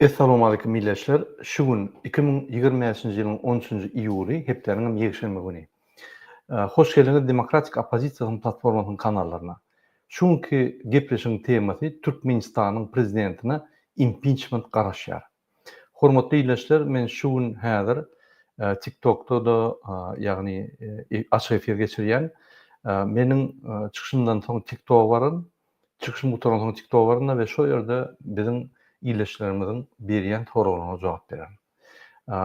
Essalowmalikim Milletçiler şu gün iki müň ýigrimi bäşinji ýylyň on üçünji iýuly hepdäniňem ýekşenbe güni. Hoş geldiňiz Demokratik Oppozisiýasynyň Platformasynyň kanallaryna. Şu günki gepleşigiň temasy Türkmenistanyň Prezidentine impiçment garaşýar. Hormatly Ildeşler men şu gün häzir Tiktokda da ýagny açyk efir geçirýän. Meniň çykyşymdan soň Tiktoga baryň Çykyşym gutarandan soň TikToga baryn-da we şol ýerde biziň ildeşlerimiziň berýän soraglaryna jogap bererin.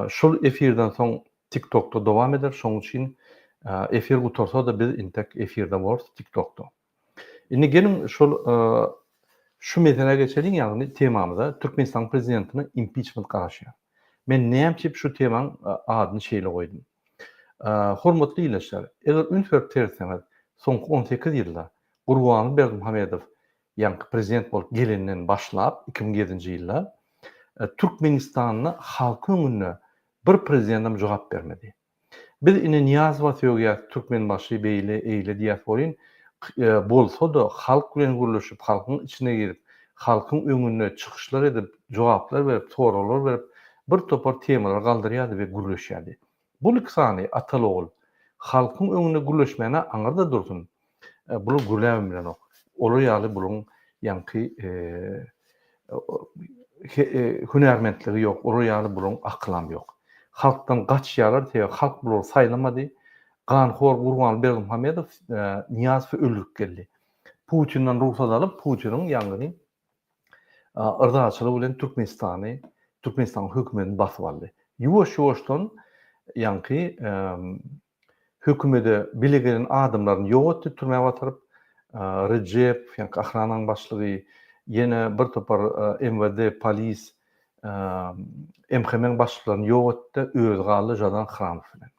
Şul efirden soň TikTokda dowam eder, şonuň üçin efir gutarsa-da biz intek efirde bolarys TikTokda. Indi geliň şol şu meselä geçeliň, ýagny temamyza, Türkmenistanyň prezidentine impiçment garaşýar. Men näme üçin şu temanyň adyny şeýle goýdum? Hormatly ildeşler, eger üns berip seretseňiz, soňky on sekiz ýylda Gurbanguly Berdimuhamedow ýaňky prezident bolup gelenden başlap, iki müň ýedinji ýylda Türkmenistanda halky öňünde bir prezidentem jogap bermedi. Biz ine Nyýazowa sögýäs, Türkmenbaşy beýle, eýle diýäs welin, bolsa-da halk bilen gürleşip, halkyň içine girip, halkyň öňünde çykyşlar edip, jogaplar berip, soraglar berip, bir topar temalary galdyrýardy we gürleşýärdi. Bul iki sany ataly-ogul halkyň öňünde gürleşmäne aňyrda dursun, bular gürläbem bilenok. Olar ýaly bularyň ýaňky hünärmentligi ýok, olar ýaly bularyň akylam ýok. Halkdan gaçýarlar, sebäbi halk bulary saýlamady. Ganhor Gurbanguly Berdimuhamedow Nyýazowy öldürip geldi. Putinden rugsat alyp, Putiniň ýaňky yrzaçylygy bilen Türkmenistany, Türkmenistanyň hökümetini basyp aldy. Ýuwaş-ýuwaşdan ýaňky hökümede bile gelen adamlaryny ýok etdi, türmä batyryp, Rejep, ýaňky ahrananyň başlygy, ýene bir topar MWD, polis, MHM-iň başlyklaryny ýok etdi, özi galdy Žadan Hramow bilen.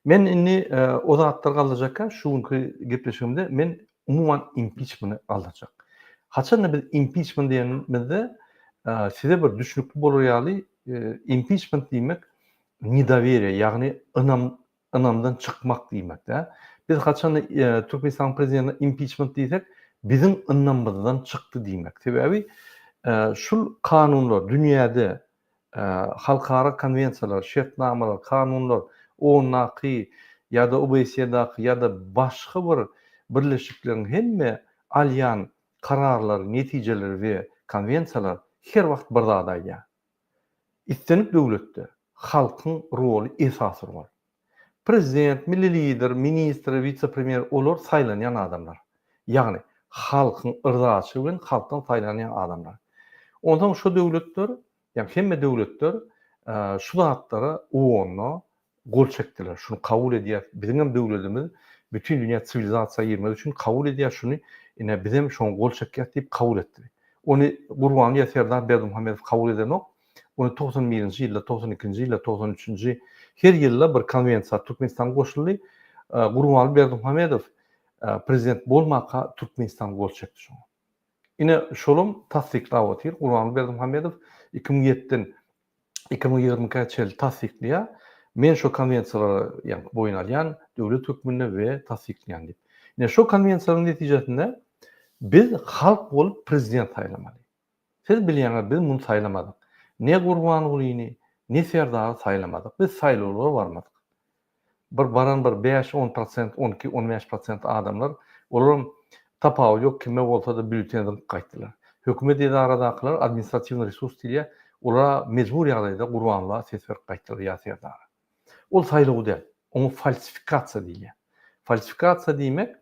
Men indi o zatlary galdyrjak, şu günki gepleşigimde men umuman impiçmeni galdyrjak. Haçanda biz impiçment diýenimizde size bir düşnükli bolar ýaly impiçment diýmek nedoweriýe ýagny ynam ynamdan çykmak diýmekdä. Biz haçanda Türkmenistanyň prezidentine impiçment diýsek biziň ynamyzdan çykdy diýmek. Sebäbi şul kanunlar dünýäde Halkara konwensiýalar, şertnamalar, kanunlar, OON-daky ýa-da OBSE-daky ýa-da başga bir birleşikleriň hemme alýan kararlary, netijeleri we konwensiýalar her wagt bir zady aýdýar. Islendik döwletde halkyň roly esasy rol. Prezident, milli Lider, ministr, wise-premýer, olar saýlanýan adamlar. Ýagny, halkyň yrdasy bilen halkdan saýlanýan adamlar. Onsoň şo döwletler, ýagny hemme döwletler şu zatlara uonno gol çekdiler, şuny kabul edýäs, biziň hem döwledimiz bütin dünýä siwilizasiýa girmek üçin kabul edýär şuny, ine bizem şoňa gol çekýäs diýip kabul etdi. Ony Gurbanlyýa Serdar Berdimuhamedow kabul edenok, Ony togsan birinji ýylda, togsan ikinji ýylda, togsan üçünji her ýylda bir konwensiýa Türkmenistan goşuldy. Gurbanguly Berdimuhamedow prezident bolmaka Türkmenistan gol çekdi şoňa. Ine şolam tassyklap otyr. Gurbanguly Berdimuhamedow iki müň ýetiden iki müň ýigrimi ikä çenli tassyklaýar. Men şo konwensiýalary ýaňky boýun alýan döwlet hökmünde we tassyklaýan diýip. Ine şo konwensiýalaryň netijesinde biz halk bolup prezident saýlamaly. Siz bilýäňiz, biz muny saýlamadyk. Ne Gurbangulyny, ne Serdary saýlamadyk. Biz saýlawlara barmadyk. Bir baran bir bäş-on prosent, on iki, on bäş prosent adamlar, olaram tapawudy ýok, kime bolsa-da býulleten zyňyp gaýtdylar. Hökümet edaradakylar, administratiwnyý resurs diýilýär, olara mejbur ýagdaýda Gurbanguly'a ses berip gaýtdylar ýa Serdara. Ol saýlaw däl. Oňa falsifikasiýa diýilýär. Falsifikasiýa diýmek,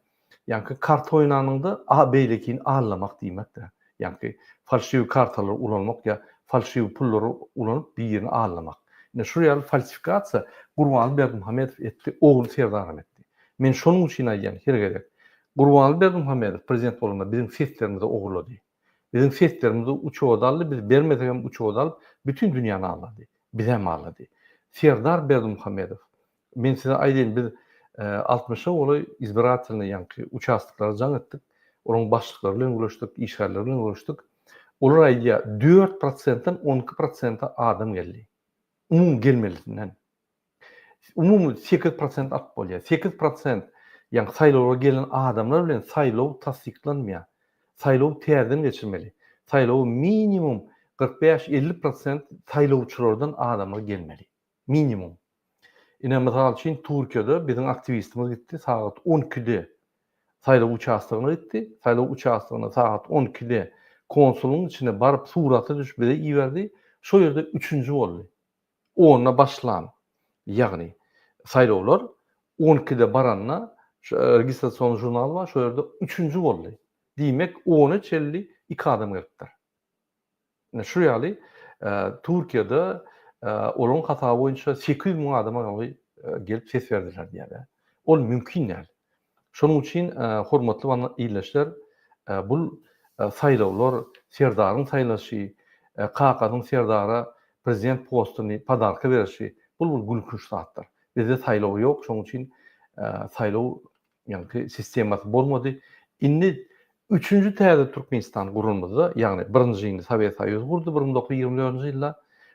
ýaňky karta oýnanyňda a beýlekini aldamak diýmekdir. Ýaňky falşiw kartalary ulanmak ýa falşiw pullary ulanyp birini aldamak. Ine şu ýaly falsifikasiýa Gurbanly Berdimuhamedow etdi, ogly Serdaram etdi. Men şonuň üçin aýdýan her gezek. Gurbanly Berdimuhamedow prezident bolanda biziň seslerimizi ogurlady. Biziň seslerimizi uçoda aldy, biz bermesek hem uçoda alyp, bütin dünýäni aldady. Bizem aldady. Serdar Berdimuhamedow, men size aýdaýyn, biz altmyşa golaý izbiratelnyý ýaňky uçastoklara jaň etdik, olaryň başlyklary bilen görüşdik, işgärleri bilen görüşdik. Olar aýdýar, dört prosentden on iki prosente adam geldi. Umumy gelmelisinden. umumy sekiz prosent alyp bolýar. Sekiz prosent, ýagny saýlawlara gelen adamlar bilen saýlaw tassyklanmaýar. Saýlawy täzeden geçirmeli. Saýlawa minimum kyrk bäş, elli prosent saýlawçylardan adamlar gelmeli. Minimum. Ine, mysal üçin, Türkiýede biziň aktiwistimiz gitdi, sagat on ikide saýlaw uçastogyna gitdi. Saýlaw uçastogyna sagat on ikide konsulyň içine baryp, surata düşüp bize iberdi. Şo ýerde üçünji boldy. Onda başlan, ýagny saýlawlar on ikide baranda şu registrasion žurnal bar, şo ýerde üçünji boldy. Diýmek, ona çenli iki adam gelipdir. Ine şu ýaly Türkiýede olaryň hasaby boýunça sekiz ýüz müň adama ýaly gelip ses berdiler diýýärler. Ol mümkin däl. Şonuň üçin, hormatly ildeşler, bu saýlawlar, serdaryň saýlaşy, kakasynyň serdara prezident postuny podarka berişi, bul bir gülkünç zatdyr. Bizde saýlaw ýok, şonuň üçin saýlaw ýaňky sistemasy bolmady. Indi üçünji täze Türkmenistan guranymyzda, ýagny birinjini Sowet Soýuzy gurdy bir müň dokuz ýüz ýigrimi dördünji ýylda,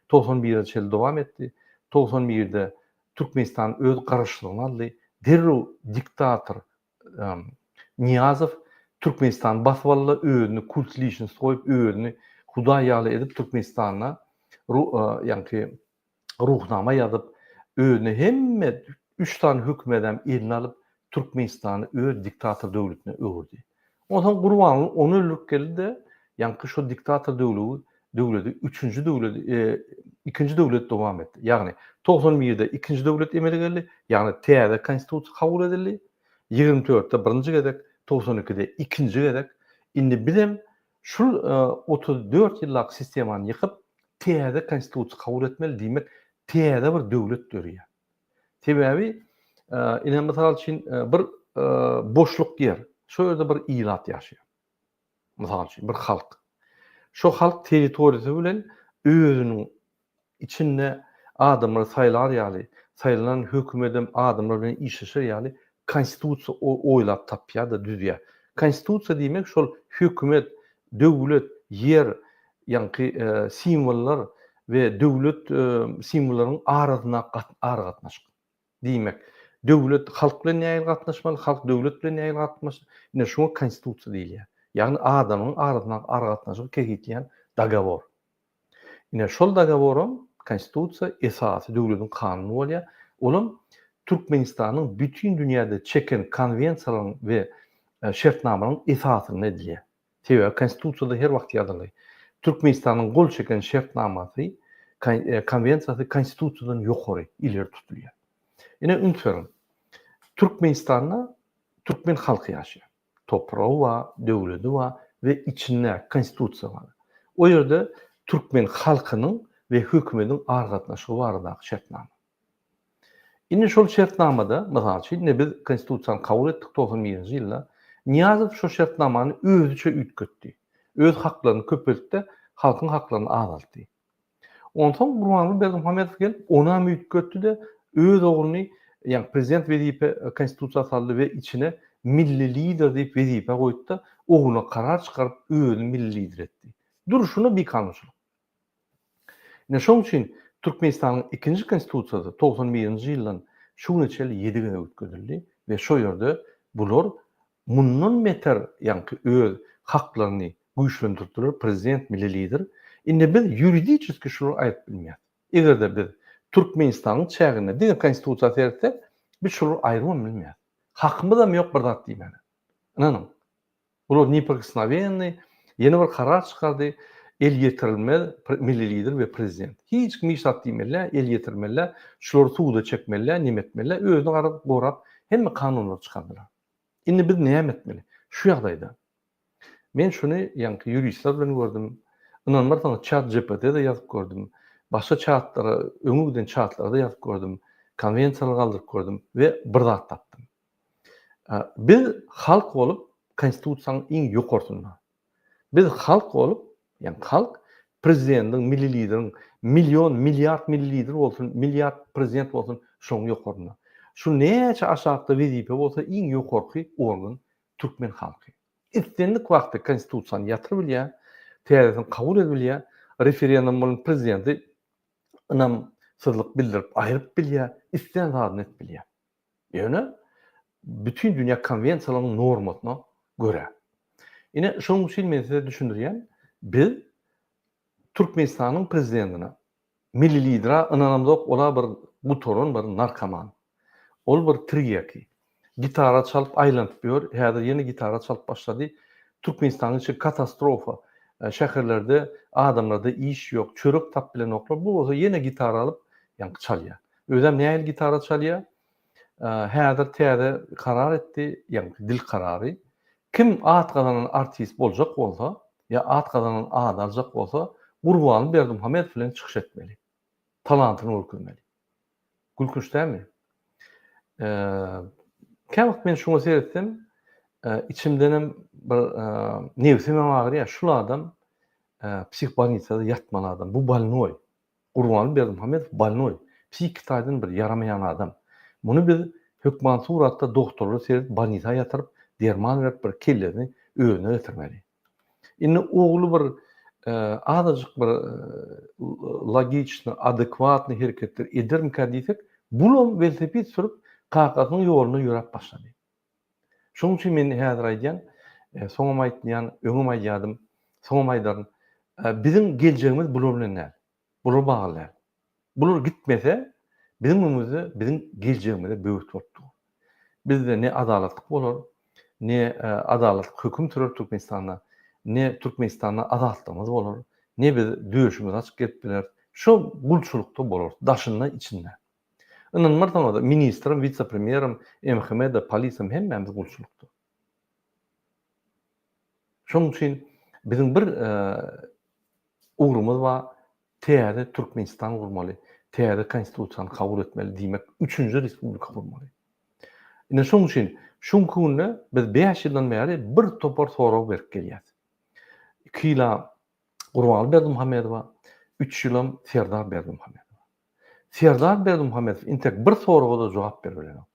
togsan birinji ýyl dowam etdi. Togsan birde Türkmenistan öz garaşlygyna aldy. Derrew diktator Nyýazow Türkmenistany basyp aldy-da, özüni kult liçnost goýup, özüni hudaý ýaly edip, Türkmenistanda ýaňky Ruhnama ýazyp, özüne hemme üç sany hökümi-dem eline alyp, Türkmenistany öz diktator döwletine öwürdi. Onsoň Gurbanguly ony öldürip geldi-de, ýaňky şo diktator döwlegi, döwledi üçünji döwlet, ikinji döwlet dowam etdi. Ýagny, togsan birde ikinji döwlet emele geldi, ýagny täze Konstitusiýa kabul edildi, ýigrimi dörtde birinji gezek, togsan ikide ikinji gezek. Indi bizem şul otuz dört ýyllap sistemany ýykyp, täze Konstitusiýa kabul etmeli, diýmek, täze bir döwlet dörýär. Sebäbi, ine, mysal üçin, bir boşluk ýer, şo ýerde bir ilat ýaşaýar. Mysal üçin, bir halk. Şo halk territoriýasy bilen özüniň içinde adamlary saýlar ýaly, saýlanan hökümedem adamlar bilen işleşer ýaly konstitusiýa oýlap tapýar-da, düzýär. Konstitusiýa diýmek, şol hökümet Döwlet, ýer, ýaňky simwollar we döwlet simwollaryň arasyndaky aragatnaşyk. Diýmek, döwlet halk bilen nähili gatnaşmaly, halk döwlet bilen nähili gatnaşmaly, ine şuňa konstitusiýa diýilýär. Ýagny adamyň arasyndaky aragatnaşygy kesgitleýän dogowor. Ine, şol dogoworam, Konstitusiýa, esasy döwletiň kanuny bolýar. Olam Türkmenistanyň bütin dünýäde çeken konwensiýalaryň we şertnamalaryň esasynda edilýär. Sebäbi Konstitusiýada her wagt ýazyly. Türkmenistanyň gol çeken şertnamasy, konwensiýasy Konstitusiýadan ýokary, ileri tutulýar. Ine, üns beriň. Türkmenistanda türkmen halky ýaşaýar. Topragy bar, döwledi bar we içinde Konstitusiýa bar. O ýerde türkmen halkynyň we hökümetiň aragatnaşygy baradaky şertnama. Indi şol şertnamada, mysal üçin, ine biz Konstitusiýany kabul etdik togsan birinji ýylda. Nyýazow şo şertnamany özüçe üýtgetdi. Öz haklaryny köpeltdi, halkyň haklaryny azaltdy. Onsoň Gurbanguly Berdimuhamedow gelip, onam üýtgetdi-de, öz ogluny, ýagny prezident wezipe Konstitusiýa saldy we içine Milli Lider diýip wezipe goýdy-da, ogluna karar çykaryp, özüni Milli Lider etdi. Durşuna bikanunçylyk. Ine, şonuň üçin Türkmenistanyň ikinji Konstitusiýasy togsan birinji ýyldan şu güne çenli ýedi gezek üýtgedildi we şo ýerde bular Mundan beter ýaňky öz haklaryny güýçlendirdiler prezident milli lider indi biz ýuridiçeski şulary aýdyp bilmeýäs egerde biz türkmenistanyň çäginde diňe konstitusiýa seretsek biz şulary aýrybam bilmeýäs hakymyzam ýok bir zat diýmäne ynanyň bular neprikosnowennyý ýene bir karar çykardy elýetirilmez milli lider we prezident hiç kim hiç zat diýmelidä elýetirmelidä şulary suda çekmelidä nemetmelidä özüni garap gorap hemme kanunlary çykardylar. Indi biz näme etmeli? Şu ýagdaýda. Men şuny ýaňky ýuristler bilen gördüm. Ynanmarsaňyz çat GPT-de ýazyp gördüm. Başga çatlara, öňe giden çatlarda ýazyp gördüm. Konwensiýalary galdyryp gördüm we bir zat tapdym. Biz halk bolup konstitusiýanyň iň ýokarsynda. Biz halk bolup, ýagny halk prezidendiň, milli lideriň million, milliard milli lider bolsun, milliard prezident bolsun şoň ýokarynda. Şu näçe aşakda wezipe bolsa iň ýokarky organ türkmen halky. Islendik wagty konstitusiýany ýatyr bilýär, täzesini kabul ed bilýär, referendum bilen prezidenti ynamsyzlyk bildirip aýryp bilýär, islän zadyny et bilýär. Ýöne bütin dünýä konwensiýalarynyň normasyna görä. Ine, şonuň üçin men size düşündirýän, biz Türkmenistanyň prezidentine, milli lidere ynanamzok, ol-a bir gutaran bir narkoman. Ol bir tirýaki. Gitara çalyp aýlanyp ýör, häzir ýene gitara çalyp başlady. Türkmenistanyň içi katastrofa. Şäherlerde adamlarda iş ýok, çörek tapyp bilenoklar. Bu bolsa ýene gitara alyp, ýaňky çalýar. Özem nähili gitara çalýar? Häzir täze karar etdi, ýagny dil karary. Kim at gazanan artist boljak bolsa, ýa at gazanan ady aljak bolsa, Gurban Berdimuhamedow bilen çykyş etmeli. Talantyny görkezmeli. Gülkünç dälmi? Käwagt men şuňa seretsem, içimdenem bir nebsimem agyrýar. Şul adam psihbolnisada ýatmaly adam. Bu bolnoý. Gurbanguly Berdimuhamedow bolnoý, psihiki taýdan bir ýaramaýan adam. Muny biz hökman suratda dogtorlar seredip bolnisa ýatyryp, derman berip bir kellesini özüne getirmeli. Indi ogly bir azajyk bir logiçny, adekwatny hereketler edermikä diýsek, bulam welosiped sürüp kakasynyň ýolunda ýöräp başlady. Şonuň üçin men häzir aýdýan, soňam aýtmaýan, öňem aýdýardym, soňam aýdaryn, biziň geljegimiz bular bilen däl, bular bagly däl. Bular gitmese, biziň öňümizde biziň geljegimize böwet bolup dur. Bizde ne adalatlyk bolar, ne adalatlyk höküm sürer Türkmenistanda, ne Türkmenistanda azatlygymyz bolar, ne biz döşümizi açyp gezip bileris, şo gulçulykda bolarys, daşynda-içinde. Ynanmarsyňyz, ministrim, wise-premýerim, MHM-de, polisem hemmämiz gulçulykda. Şonuň üçin biziň bir ugrumyz bar, täze Türkmenistan gurmaly, täze Konstitusiýany kabul etmeli, diýmek, üçünji respublika gurmaly. Ine şonuň üçin şu günki günde biz bäş ýyldan bäri bir topar sorag berip gelýäs. Iki ýyla Gurbanguly Berdimuhamedowa, üç ýylam Serdar Berdimuhamedowa. Serdar Berdimuhamedow intek bir soraga-da jogap berip bilenok.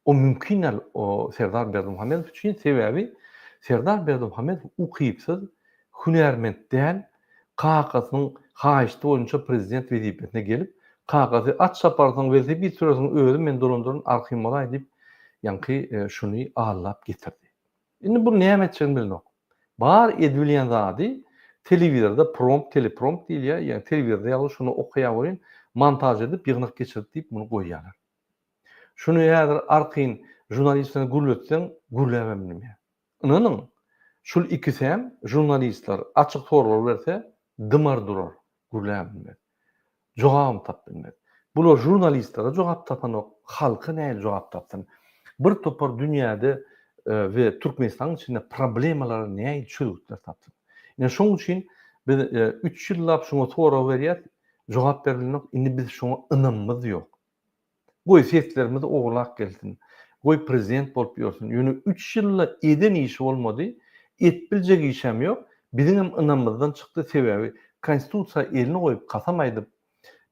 O mümkin däl o Serdar Berdimuhamedow üçin, sebäbi Serdar Berdimuhamedow ukypsyz, hünärment däl, kakasynyň haýyşty boýunça prezident wezipesine gelip, kakasy at çaparsyň, welosiped sürersiň, özi men dolandyryn, arhym bolaý diýip, ýaňky şuny allap getirdi. Indi bu näme etjegini bilenok. Bar edibilýän zady telewizorda prompt, teleprompt diýilýär, ýagny telewizorda ýazylyp şony okaýar welin, montaž edip, ýygnak geçirip diýip muny goýýarlar. Şuny häzir arkaýyn žurnalistleriňi gürletseň, gürläp hem bilmeýär. Ynanyň, şul ikisem žurnalistler açyk sorag berse dymar durar, gürläp hem bilmez. Jogabam tap bilmez. Bular žurnalistlere jogap tapanok, halka nähili jogap tapsyn? Bir topar dünýäde we Türkmenistanyň içinde problemalara nähili çözgütler tapsyn? Ine şoň üçin biz üç ýyllap şuňa sorag berýäs, jogap berilmok, indi biz şoňa ynamymyz ýok. Goý seslerimiz owlak gelsin. Goý prezident bolup ýörsün. Ýöne üç ýylda eden işi bolmady, et biljek işem ýok. Biziňem ynamyzdan çykdy sebäbi konstitusiýa elini goýup kasam aýdyp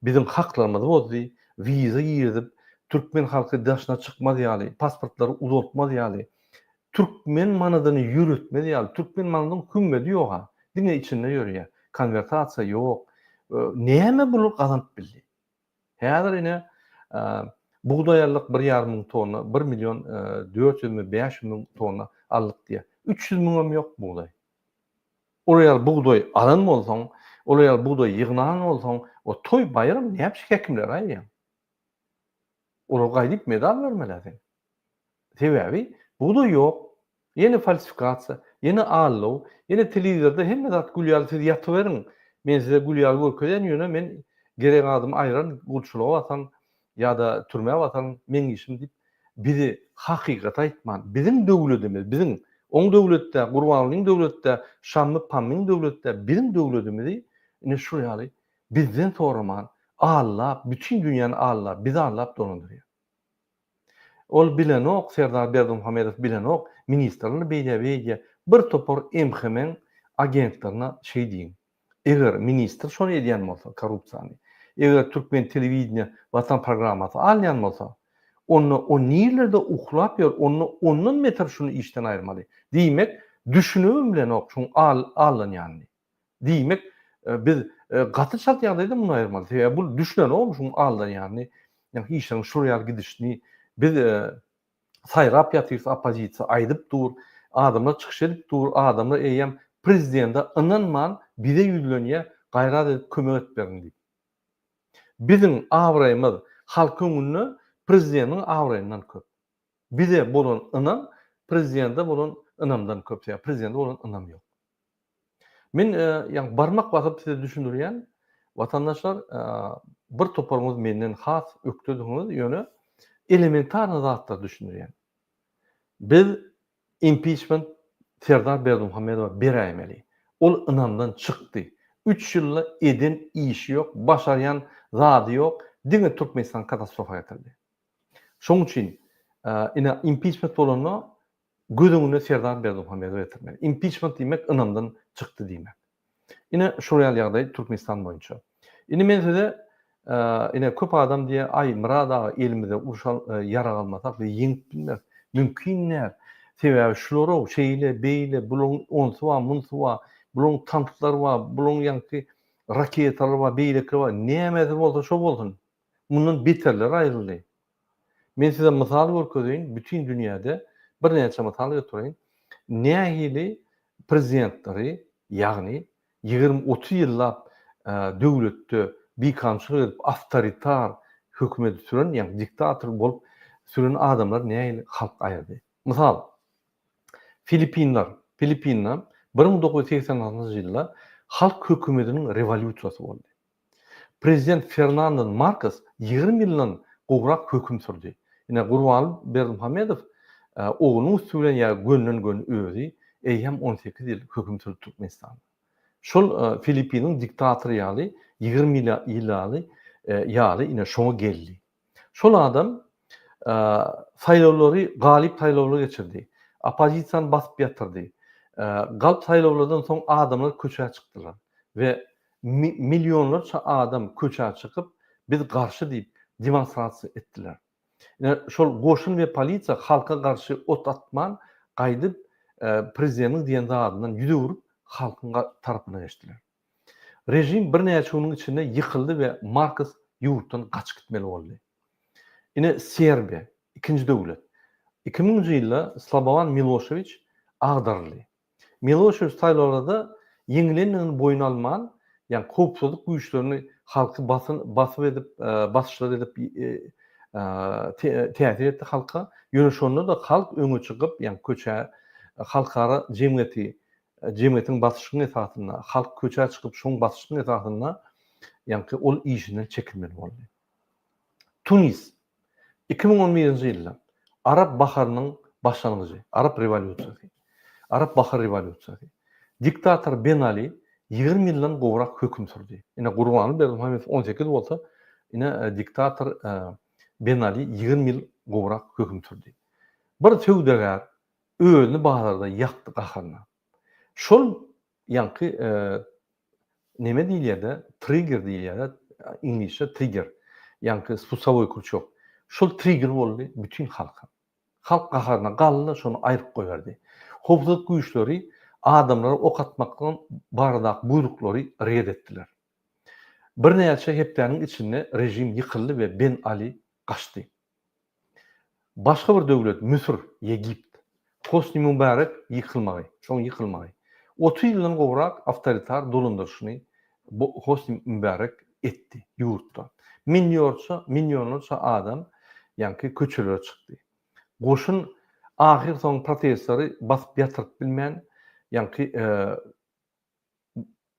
biziň haklarymyzy bozdy, wiza girizip türkmen halky daşyna çykmaz ýaly, pasportlary uzaltmaz ýaly, türkmen manadyny ýöretmez ýaly, türkmen manadyň hümmedi ýoga, diňe içinde ýörýä, konwertasiýa ýok. Näme bular gazanyp bildi. Häzir ine, bugdaýallyk bir ýarym müň tonna, bir million dört ýüzmi, bäş ýüz müň tonna aldyk diýýär. Üç ýüz müňem ýok bugdaý. Ol ýaly bugdaý alan bolsaň, ol ýaly bugdaý ýygnan bolsaň, o toý-baýram näpişik hekimlere aýdýaň? Olar gaýdyp medal bermeli-ä seň. Sebäbi bugdaý ýok, ýene falsifikasiýa, ýene aldaw, ýene telewizorda hemme zat gül ýaly siz ýatyberiň, men size gül ýaly görkezýän ýöne men gerek adym aýran gulçulyga bataryn ýa-da türmä bataryn meň işim diýip bizi hakykaty aýtman biziň döwledimiz biziň oň döwleti-dä Gurbangulyň döwleti-dä Şammy Pammyň döwleti-dä biziň döwledimizi ine şul ýaly bizden soraman aldap bütin dünýäni aldap bizi aldap dolandyrýar. Ol bilenok, Serdar Berdimuhamedow bilenok, ministrler beýle beýdýär. Bir topar MHM-iň agentlerine şeý diýiň. Eger ministr şony edýän bolsa, korrupsiýany, eger türkmen telewideniýe Watan programmasy alýan bolsa, onda o nirlerde uklap ýör, onda ondan beter şuny işden aýyrmaly. Diýmek, düşünibem bilenok şuň al-allanýanyny. Diýmek, biz gaty çalt ýagdaýda muny aýyrmaly. Sebäbi bu düşünenogmy şuň aldanýanyny, işleriň şur ýaly gidişini. Biz saýrap ýatyrys, oppozisiýa aýdyp dur, adamlar çykyş edip dur, adamlar eýýäm prezidende ynanman bize ýüzlenýär, gaýrat edip kömek edip beriň diýip. Biziň abraýymyz halk öňünde prezideniň abraýyndan köp. Bize bolan ynam prezidende bolan ynamdan köp, sebäbi prezidende bolan ynam ýok. Men ýa barmak basyp size düşündirýän, watandaşlar bir toparyňyz menden has ökdediňiz, ýöne elementarny zatlar düşündirýän. Biz impiçment Serdar Berdimuhamedowa beräýmeli. Ol ynamdan çykdy. Üç ýylda eden işi ýok, başarýan zady ýok, diňe Türkmenistan katastrofa getirdi. Şoň üçin ine impiçment bolanda Göz öňüne Serdar Berdimuhamedowy getirmeli. Impiçment diýmek ynamdan çykdy diýmek. Ine şol ýaly ýagdaý Türkmenistan boýunça. Indi men size ine köp adam diýýär, aý Myrat aga elimize uruş ýarag almasak biz ýeňip bilmeris. Mümkin däl. Sebäbi şular-ow şeýle, beýle, bularyň onsy bar, munsy bar, bularyň tanklary bar, bularyň ýaňky raketalary bar, beýlekleri bar. Nämesi bolsa şo bolsun. Mundan beterleri aýryldy. Men size mysal görkezeýin, bütin dünýäde birnäçe mysal götereýin. Nähili prezidentleri, ýagny ýigrimi, otuz ýyllap döwletde bikamçylyk edip, awtoritar hökümeti süren, ýagny diktator bolup süren adamlary nähili halk aýyrdy. Mysal, Filipinler. Filipinde bir müň dokuz ýüz segsen altynjy ýylda halk hökümetiniň rewolýusiýasy boldy. Prezident Fernando Markos ýigrimi ýyldan gowrak höküm sürdi. Ine, Gurbaly Berdimuhamedow oglunyň üsti bilen ýa gönden-göni özi, eýýäm on sekiz ýyl höküm sürdi Türkmenistanda. Şol Filippiniň diktatory ýaly, ýigrimi ýyl ýaly, ýaly, ine, şoňa geldi. Şol adam saýlawlary galyp saýlawly geçirdi. Oppozisiýany basyp ýatyrdy. Galp saýlawlardan soň adamlar köçä çykdylar we millionlarça adam köçä çykyp, biz garşy diýip, demonstrasiýa etdiler. Ine, şol goşun we polisiýa halka garşy ot atman, gaýdyp, prezidentiň diýen zadyndan ýüz öwrüp, halkyň tarapyna geçdiler. Režim birnäçe günüň içinde ýykyldy we Markos ýurtdan gaçyp gitmeli boldy. Ine, Serbiýa, ikinji döwlet. Iki müňünji ýylda Slobowan Miloşewiç agdaryldy. Miloşewiç saýlawlarda ýeňilendigini boýun alman, ýagny howpsuzlyk güýçlerini halky basyp edip, basyşlar edip täsir etdi halka. Ýöne şonda-da halk öňe çykyp, ýagny köçä halkara jemgyýeti jemgyýetiň basyşyň esasynda, halk köçä çykyp şoň basyşyň esasynda ýaňky ol işinden çekilmeli boldy. Tunis, iki müň on birinji ýylda Arap baharynyň başlangyjy, Arap rewolýusiýasy, Arap bahar rewolýusiýasy. Diktator Ben Ali ýigrimi ýyldan gowrak höküm sürdi. Ine, Gurbanguly Berdimuhamedow on sekiz bolsa, ine, diktator Ben Ali ýigrimi ýyl gowrak höküm sürdi. Bir söwdagär, Özüni bazarda ýakdy gaharyna. Şol ýaňky neme diýilýärde trigger diýilýär iňlisçe trigger ýaňky spusowoý krçok şol trigger boldy bütin halka. Halk gaharyna galdy şony aýryp goýberdi. Howpsuzlyk güýçleri adamlara ok atmakdan baradaky buýruklary red etdiler. Birnäçe hepdäniň içinde režim ýykyldy we Ben Ali gaçdy. Başga bir döwlet, Müsür, Ýegipt. Hosni Mubarek ýykylmagy, şoň ýykylmagy. Otuz ýyldan gowrak awtoritar dolandyryşyny bu Hosni Mubarek etdi ýurtda. Minýorça, minionlarça adam ýaňky köçelere çykdy. Goşun ahyrsoňy protestleri basyp ýatyryp bilmän ýaňky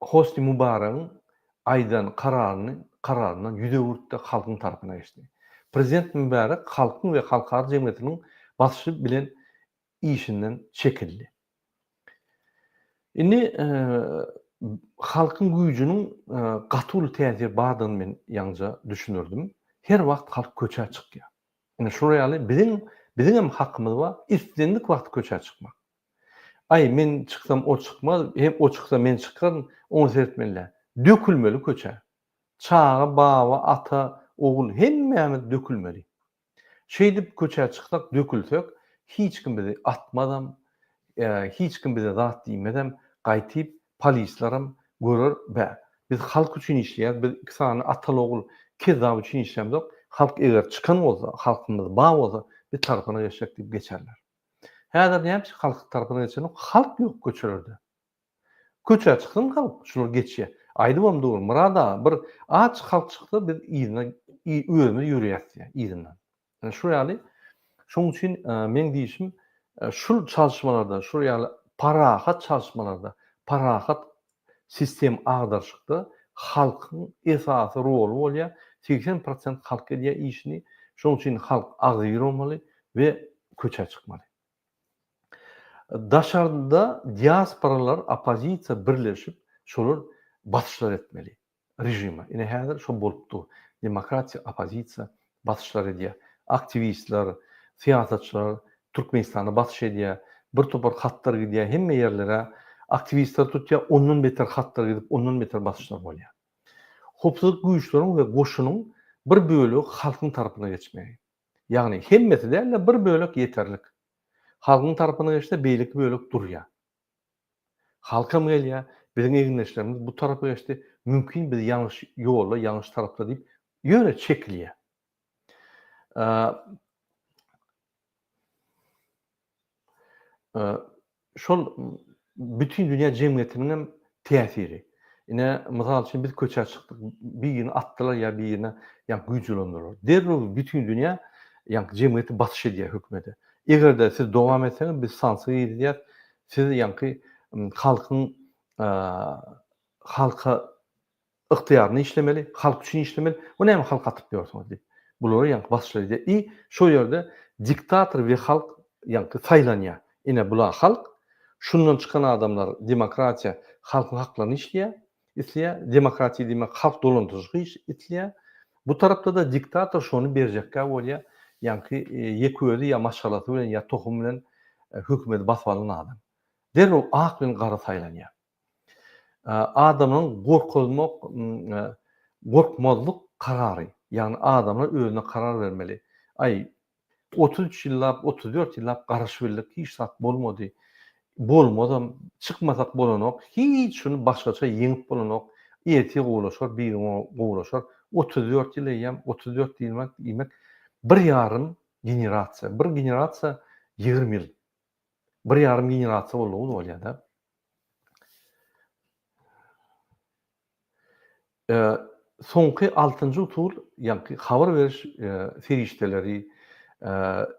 Hosni Mubaragyň aýdan kararyny kararyndan ýüz öwürtdi, halkyň tarapyna geçdi. Prezident Mubarak halkyň we halkara jemgyýetiniň basyşy bilen işinden çekildi. Indi halkyň güýjüniň gaty uly täsir bardygyny men ýaňja düşündirdim. Her wagt halk köçä çykýar. Indi şular ýaly biziň biziňem hakymyz bar, islendik wagt köçä çykmak. Aý, men çyksam o çykmaz, hem o çyksa men çykaryn, ony seretmeli-dä. Dökülmeli köçä. Çaga, baba, ata, ogul hemmämiz dökülmeli. Şeýdip köçä çyksak, dökülsek, hiç kim bizi atmazam, hiç kim bize zat diýmezem, gaýtyp polislaram görer, bä, biz halk üçin işleýäris, biz iki sany ataly-ogul kezzap üçin işlämzok, halk eger çykan bolsa, halkymyz bar bolsa, biz tarapyna geçsek diýip geçerler. Häzir nämeçe halk tarapyna geçelim, halk ýok köçelerde. Köçä çyksyn halk, şular geçýär. Aýdybam dur, Myrat aga, bir aç halk çyksa biz yzyna özümiz ýörýäs diýýär yzyndan. Ine şu ýaly, şoň üçin meň diýşim, şul çalyşmalarda, şul ýaly parahat çalyşmalarda, parahat Sistem agdaryşykda halkyň esasy roly bolýar, segsen prosent halk edýär işini, şonuň üçin halk agzybir bolmaly we köçä çykmaly. Daşarda diasporalar, oppozisiýa birleşip şolar basyşlar etmeli. režima. Ine häzir şo bolup dur. Demokratiýa oppozisiýa basyşlar edýär. Aktiwistler, syýasatçylar Türkmenistana basyş edýär. Bir topar hatlar gidýär hemme ýerlere. Aktiwistler tutýar, ondan beter hatlar gidip, ondan beter basyşlar bolýar. Howpsuzlyk güýçleriň we goşunyň bir bölegi halkyň tarapyna geçmegi. Ýagny hemmesi däl-de bir bölek ýeterlik. Halkyň tarapyna geçse beýleki bölek durýar. Halkam gelýä, biziň egindeşlerimiz bu tarapa geçdi, mümkin biz ýalňyş ýolda, ýalňyş tarapda diýip ýöne çekilýä. Şol bütin dünýä jemgyýetiniňem täsiri. Ine, mysal üçin, biz köçä çykdyk, birini atdylar ýa birine ýaňky güýç ulandylar. Derrew bütin dünýä, ýaňky jemgyýet basyş edýär hökümete. Eger-de siz dowam etseňiz, biz sanksiýa girizýäs, siz ýaňky halkyň halka Ygtyýarly işlemeli, halk üçin işlemeli, bu näme halky atyp ýörsüňiz diýip. Bulary ýaňky basşylar edýär i şo ýerde diktator we halk ýaňky saýlanýar. Ine bular halk, şundan çykan adamlar demokratiýa halkyň haklaryny işleýär, isleýär, demokratiýa diýmek halk dolandyryjyk iş isleýär. Bu tarapda-da diktator şony berjekkä bolýar, ýaňky ýeke özi ýa maşgalasy bilen ýa tohumy bilen hökümeti basyp alan adam. Derrew ak bilen gara saýlanýar. Adamlaryň gorkuzmak, gorkmazlyk karary, ýagny adamlar özüne karar bermeli. Aý, otuz üç ýyllap, otuz dört ýyllap garaşybildik, hiç zat bolmady, bolmazam, çykmasak bolanok, hiç gün başgaça ýeňip bolanok, ertir gowulaşar, birigün gowulaşar, otuz dört ýyl eýýäm, otuz dört ýyl diýmek, bir ýarym generasiýa, bir generasiýa ýigrimi ýyl. Bir ýarym generasiýa boldugyny bolýar-da. Soňky altynjy usul, ýagny habar beriş serişdeleri,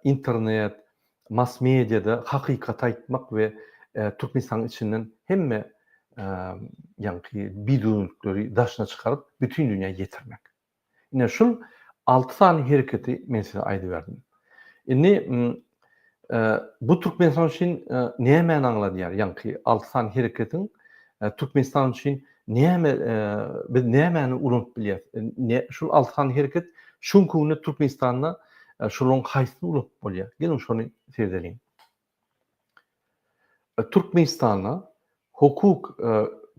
internet, mass-mediýada hakykaty aýtmak we Türkmenistanyň içinden hemme ýagny bidöwürlikleri daşyna çykaryp, bütin dünýä ýetirmek. Ine şul alty sany hereketi men size aýdyberdim. Indi bu Türkmenistan üçin nämäni aňladýar? Ýaňky alty sany hereketiň Türkmenistan üçin näme biz nämäni ulanyp bilýäris? Şul alty sany hereket şu günki günde Türkmenistanda şolaryň haýsyny ulanyp bolýar? Geliň şony sezeliň. Türkmenistanda hukuk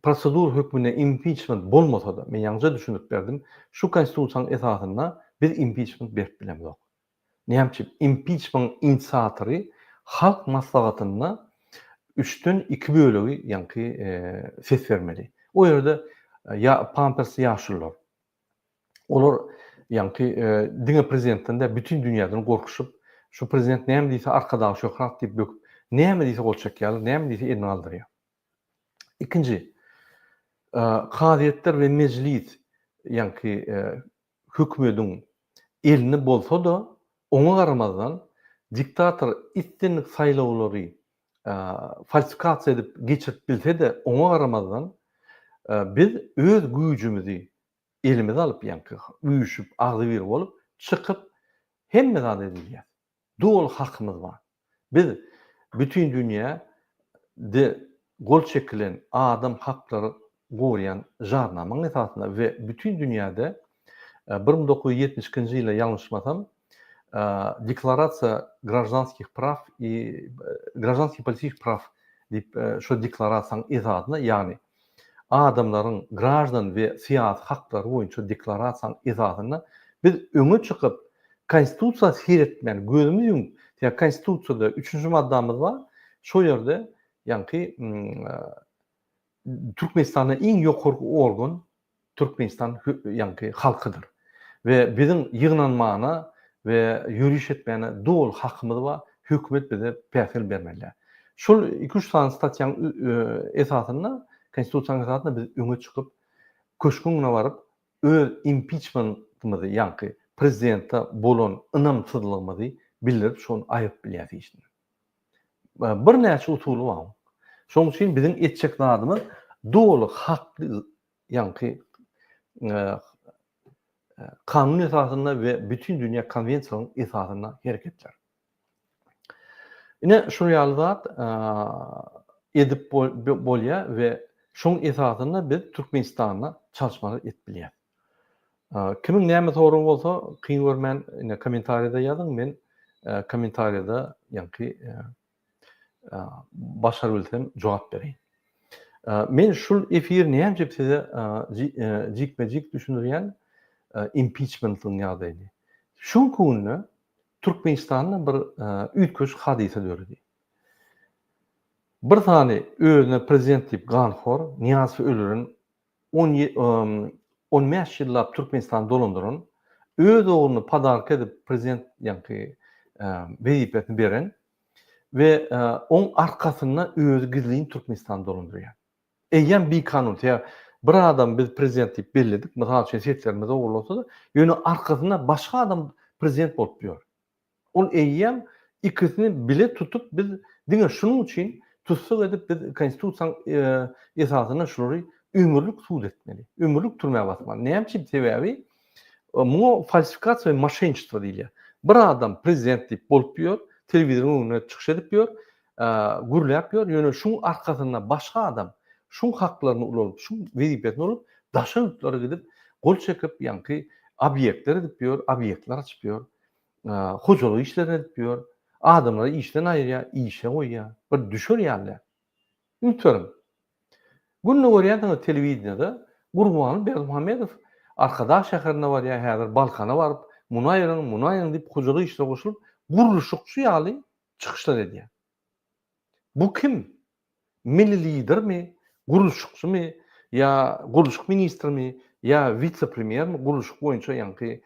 prosedur hökmünde impiçment bolmasa-da, men ýaňyja düşündirip berdim, şu Konstitusiýanyň esasynda biz impiçment berip bilemzok. Näme üçin? Impiçmentiň inisiatory Halk Maslahatynda üçden iki bölegi ýaňky ses bermeli. O ýerde ýa pampers ýaşulular. Olar ýaňky diňe prezidentden däl, bütin dünýäden gorkuşyp, şu prezident näme diýse Arkadag Şöhrat diýip böküp, näme diýse gol çekýärler, näme diýse elini galdyrýar. Ikinji, kazyýetler we mejlis ýaňky hökümediň elini bolsa-da, oňa garamazdan diktator islendik saýlawlary falsifikasiýa edip geçirip bilse-de, oňa garamazdan, biz öz güýjümizi elimize alyp, ýaňky üýşüp, agzybir bolup, çykyp, hemme zady edilýär. Doly hakymyz bar. Biz bütin dünýä de gol çekilen adam haklary gorýän Jarnamanyň esasynda we bütin dünýäde bir müň dokuz ýüz ýetmiş ikinji ýyla ýalňyşmasam Deklarasiýa graždanskih praw i graždanskih politiki praw diýip şo deklarasiýaň esasyna ýagny adamlaryň graždan we syýasy haklary boýunça deklarasiýaň esasyna biz öňe çykyp konstitusiýa seretmän gözümiz ýumup ýa konstitusiýada üçünji maddamyz bar şo ýerde ýaňky Türkmenistanda iň ýokarky organ Türkmenistan ýaňky halkydyr we biziň ýygnanmana we ýöriş etmäne doly hakymyz bar, hökümet bize päsgel bermeli. Şol iki-üç sany statýaň esasynda, Konstitusiýanyň esasynda biz öňe çykyp, köşgüň yna baryp, öz impiçmentimizi, ýaňky prezidente bolan ynamsyzlygymyzy bildirip, şony aýyryp bilýäris işinden. Birnäçe usuly bar. Şonuň üçin biziň etjek zadymyz doly hakly ýaňky kanun esasynda we bütin dünýä konwensiýalaryň esasynda hereketler. Ine şu ýaly zat edip bolýar we şoň esasynda biz Türkmenistanda çalyşmalar edip bilýäs. Kimiň näme soragy bolsa kyn görmän ine kommentariýada ýazyň men kommentariýada ýaňky başar bilsem jogap bereýin. Men şul efir näjip size jikme jik düşündirýän impiçmentiň ýagdaýyny. Şuňky günde Türkmenistanda bir üýtgeşik hadysa döredi. Bir sany özüne prezident diýip ganhor Niýazowy öldüren On bäş ýyllap Türkmenistany dolandyran, öz ogluny podarka edip prezident ýaňky wezipesini beren we oň arkasynda özi gizlin Türkmenistany dolandyrýar. Eýýäm bikanun, sebäbi bir adamy biz prezident diýip belledik, mysal üçin seslerimiz ogurlansa-da, ýöne arkasynda başga adam prezident bolup ýör. Ol eýýäm ikisini bile tutup biz diňe şunuň üçin tussag edip biz konstitusiýaň esasynda şulary ömürlik sud etmeli, ömürlik türmä basmaly. Näme üçin? Sebäbi muňa falsifikasiýa we moşenniçestvo diýilýär. Bir adam prezident diýip bolup ýör, telewizoryň öňünde çykyş edip ýör, gürläp ýör, ýöne şuň arkasynda başga adam şuň haklaryny ulalyp, şuň wezipesini ulalyp daşa ýurtlara gidip gol çekip ýaňky obýektler edip ýör, obýektler açyp ýör. hojalyk işlerini edip ýör. Adamlary işden aýyrýar, işe goýýar. Bir düşer ýaly däl. Ümit beriň. Günde görýänsiňiz telewideniýede Gurbanguly Berdimuhamedow Arkadag şäherine barýar, häzir Balkana baryp, muny aýryň, muny aýryň diýip hojalyk işine goşulyp, gurluşykçy ýaly çykyşlar edýär. Bu kim? Milli Lidermi, gurluşykçymy ýa gurluşyk ministrimi ýa witse-premýermi gurluşyk boýunça ýaňky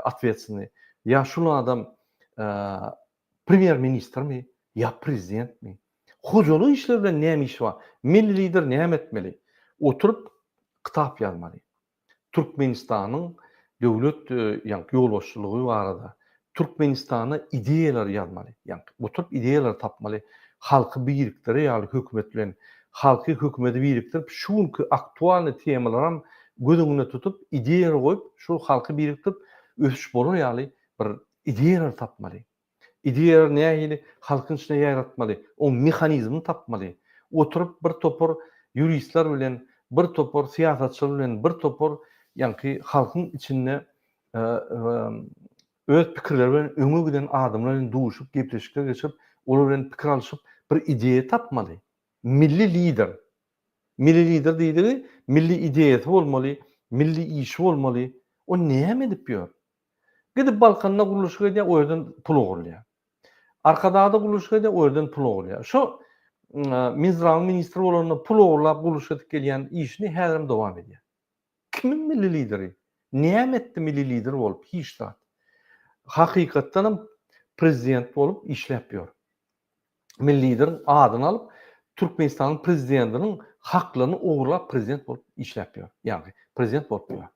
otwetsyny ýa şul adam premýer-ministrmi ýa prezidentmi? Hojalyk işleri bilen näme işi bar? Milli Lider näme etmeli? Oturyp kitap ýazmaly. Türkmenistanyň döwlet ýaňky ýolbaşçylygy barada Türkmenistana ideýalary ýazmaly, ýaňky oturyp ideýalary tapmaly, halky birikdirer ýaly hökümet bilen halky hökümedi birikdirip şu günki aktualnyý temalaram göz öňünde tutup ideýalar goýup şol halky birikdirip ösüş bolar ýaly bir ideýalary tapmaly. Ideýalary nähili halkyň içinde ýaýratmaly, oň mehanizmini tapmaly. Oturyp bir topar ýuristler bilen, bir topar syýasatçylar bilen, bir topar ýaňky halkyň içinde öz pikirleri bilen öňe giden adamlar bilen duşup, gepleşikler geçirip, olar bilen pikir alşyp, bir ideýa tapmaly. Milli lider. Milli lider diýdigi, milli ideýasy bolmaly, milli işi bolmaly. O näme edip ýör? Gidip Balkanda gurluşyk edýär, o ýerden pul ogurlaýar. Arkadagda gurluşyk edýär, o ýerden pul ogurlaýar. Şo Minzdrawyň ministri bolanda pul ogurlap gurluşyk edip gelýän işini häzirem dowam edýär. Kimiň milli lideri? Näme etdi milli lider bolup? Hiç zat. Hakykatdanam prezident bolup işläp ýör. Milli lideriň adyny alyp, Türkmenistanyň prezidentiniň haklaryny ogurlap prezident bolup işläp ýör. Ýagny prezident bolup ýör.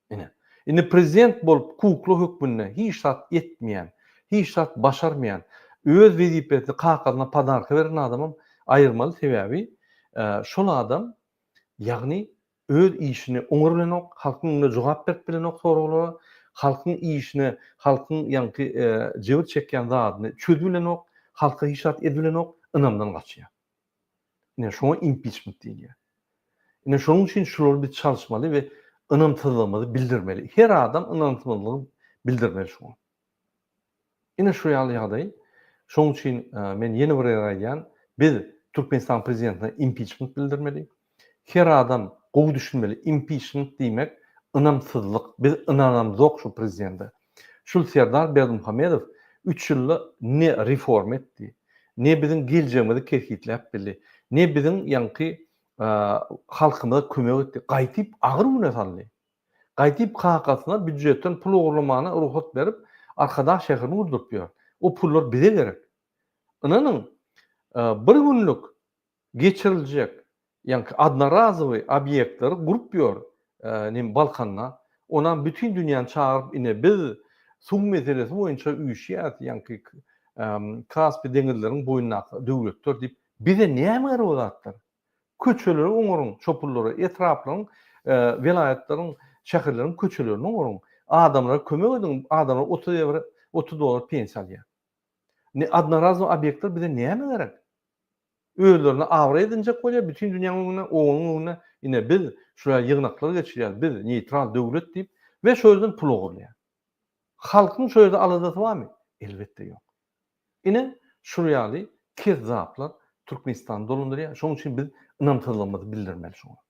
Ine, indi prezident bolup kukla hökmünde hiç zat etmeýän, hiç zat başarmaýan, öz wezipesini kakasyna podarka beren adamam aýyrmaly, sebäbi şol adam, ýagny öz işini oňar bilenok, halkyň öňünde jogap berip bilenok soraglara, halkyň işine, halkyň ýaňky jebir çekýän zadyny çözüp bilenok, halka hiç zat edip bilenok, ynamdan gaçýar. Ine şoňa impiçment diýilýär. Ine şonuň üçin şulary biz çalyşmaly we ynamsyzlygymyzy bildirmeli. Her adam ynamsyzlygy bildirmeli şoňa. Ine şu ýaly ýagdaý. Şonuň üçin e, men ýene bir ýer aýdýan, biz Türkmenistan prezidentine impiçment bildirmeli. Her adam gowy düşünmeli impiçment diýmek ynamsyzlyk biz ynanamzok şu prezidende. Şul Serdar Berdimuhamedow üç ýylda ne reforma etdi, ne biziň geljegimizi kesgitläp bildi, ne biziň ýaňky halkymyza kömek etdi, gaýtyp agyr güne saldy. Gaýtyp kakasyna býujetden pul ogurlamana rugsat berip Arkadag şäherini gurduryp ýör. O pullar bize gerek. Ynanyň bir günlük geçiriljek ýaňky odnorazowy obýektleri gurup ýör nim balkanda onam bütin dünýäni çagyryp ine biz suw meselesi boýunça üýşýäs ýaňky kaspi deňizleriň boýundaky döwletler diýip bize näme gerek o zatlar köçeleri oňaryň çopullara etraplaryň welaýatlaryň şäherleriň köçelerini oňaryň adamlara kömek ediň adamlar otuz ewro otuz dollar pensiýa alýar ne odnorazowy obýektler bize näme gerek. özlerini abraý edinjek bolýar, bütin dünýäň öňünde, OON-yň öňünde, ine biz şular ýygnaklar geçirýäris, biz neýtral döwlet diýip we şo ýerden pul ogurlaýar. Halkyň şo ýerde aladasy barmy? Elbetde ýok. Ine şul ýaly kezzaplar Türkmenistany dolandyrýar, şonuň üçin biz ynamsyzlygymyzy bildirmeli şoňa.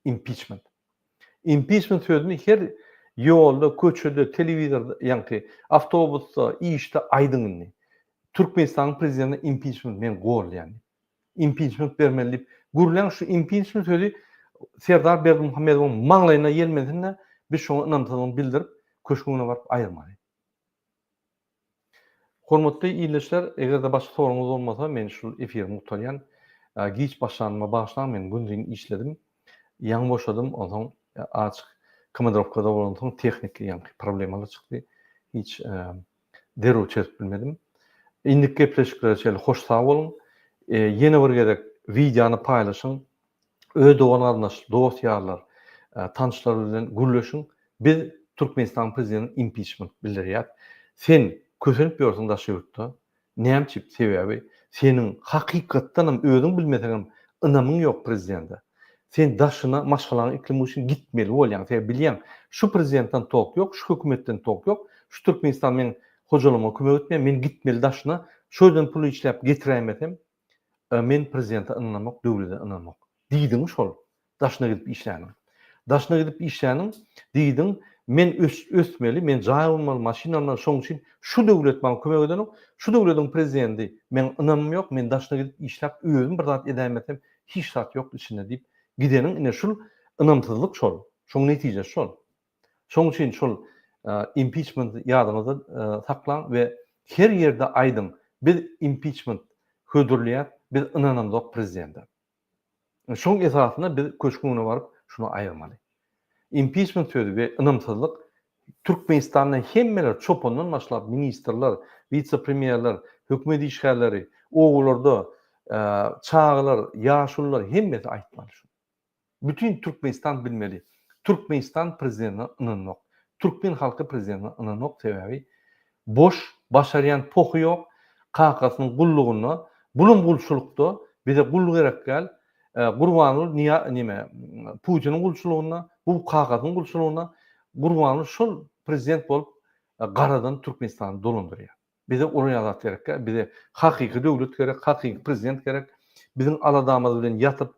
Impiçment. Impiçment sözüni her ýolda, köçede, telewizorda, ýaňky awtobusda, işde aýdyň indi. Türkmenistanyň prezidentine impiçment men gollaýan diýip. Impiçment bermeli diýip gürläň şu impiçment sözi Serdar Berdimuhamedowyň maňlaýyna ýelmensin-de, biz şoňa ynamsyzlygyny bildirip, köşgüňe baryp aýyrmaly. Hormatly ildeşler eger-de başga soragyňyz bolmasa men şul efirimi gutarýan. Giç başlanyma bagyşlaň men gündiň işledim. Ýaňy boşadym onsoň azjyk komandrowkada bolansoň tehniki ýaňky problemalar çykdy. Hiç derrew çözüp bilmedim. Indiki gepleşiklere çenli hoş sag boluň. Ýene bir gezek wideony paýlaşyň öz dogan-garyndaş, dost-ýarlar, tanşlar bilen gürleşiň, biz Türkmenistanyň prezidentine impiçment bildirýäs. Sen kösenip ýörsüň daşary ýurtda. Näme üçin? Sebäbi seniň hakykatdan hem, özüň bilmeseň hem ynamyň ýok prezidente. Sen daşyna maşgalaňy iklimi üçin gitmeli bolýaň. Sebäbi bilýäň, şu prezidentden tok ýok, şu hökümetden tok ýok. Şu Türkmenistan meň hojalygyma kömek etmeýär, men gitmeli daşyna. Şo ýerden pul işläp getiräýmesem, A men prezidente ynanamok döwlede ynanamok diýdiň şol daşyna gidip işläniň daşyna gidip işläniň diýdiň men ösmeli men jaý bolmaly maşyn almaly şoň üçin şu döwlet maňa kömek edenok şu döwlediň prezidendi meň ynamym ýok men daşyna gidip işläp özüm bir zat edäýmesem hiç zat ýok içinde diýip gideniň ine şul ynamsyzlyk şol şoň netijesi şol Şoň üçin şol impiçment ýadyňyzda saklaň we her ýerde aýdyň, biz impiçment hödürleýäs, biz ynanamzok prezidente. Şoň esasynda biz köşgüň öňüne baryp şuny aýyrmaly. Impiçment sözi we ynamsyzlyk Türkmenistanda hemmeler çopandan başlap ministrler, wise-premýerler, hökümet işgärleri, obalarda çagalar, ýaşulylar hemmesi aýtmaly şuny. Bütin Türkmenistan bilmeli. Türkmenistan prezidentine ynanmak. Türkmen halky prezidentine ynanmak sebäbi boş başarýan pohy ýok kakasynyň gullugynda bunam gulçulykda bize gul gerek däl gurbanguly niýa nime putiniň gulçulygynda bu kakasynyň gulçulygynda gurbanguly şol prezident bolup garadan Türkmenistany dolandyrýar. Bize uly azat gerekkä, bize hakyky döwlet gerek, hakyky prezident gerek, biziň aladamyz bilen ýatyp,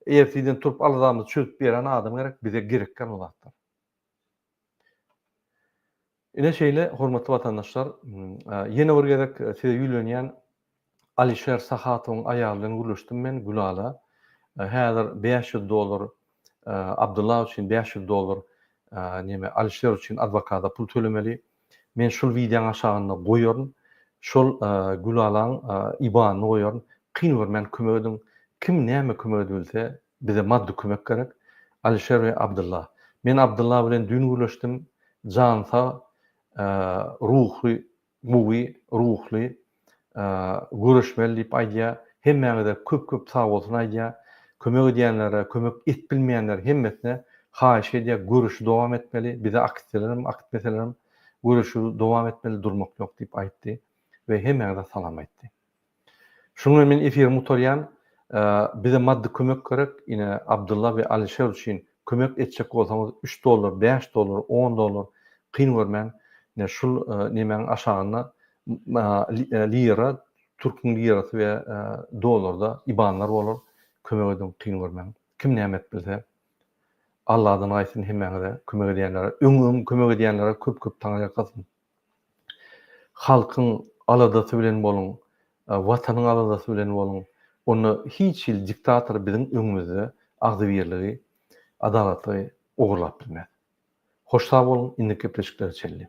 ertiden turup aladamyzy çözüp berýän adam gerek, bize gerekkä bu zatlar. Ine şeýle hormatly watandaşlar, ýene bir gezek size ýüýlenýän, Alişer Sahatowyň aýaly bilen gürleşdim men, Gülala. Häzir bäş ýüz dollar Abdylla üçin, bäş ýüz dollar neme Alişer üçin adwokada pul tölemeli. Men şul wideoň aşagynda goýaryn. Şol Gülalaň ibanyny goýaryn. Kyn görmän kömek ediň. Kim näme kömek edibilse, bize maddy kömek gerek. Alişer we Abdylla. Men Abdylla bilen düýn gürleşdim. Jany sag, ruhy gowy ruhly göreşmeli diýip aýdýar hemmäňize köp köp sagbolsun aýdýar kömek edýänlere kömek et bilmeýänler hemmesine haýyş edýär göreşi dowam etmeli bize aktsiýalarem akitmeselerem göreşi dowam etmeli durmak ýok diýip aýtdy we hemmäňize salam aýtdy. Şuňa men efiri gutarýan. Bize maddy kömek gerek. Ine Abdylla we Alişer üçin kömek etjek bolsaňyz üç dollar, bäş dollar, on dollar kyn görmän ine şul nemäň aşagynda lira, türküň lirasy we dollarda ibanlar bolar. Kömek ediň kyn görmäň. Kim näme edip bilse. Alladan gaýsyn hemmäňize kömek edýänlere. Öň öň kömek edýänlere köp köp taňyrýalkasyn. Halkyň aladasy bilen boluň, Watanyň aladasy bilen boluň, onda hiç hili diktator biziň öňümizde agzybirligi, adalatlygy ogurlap bilmez. Hoş sag boluň, indiki gepleşiklere çenli.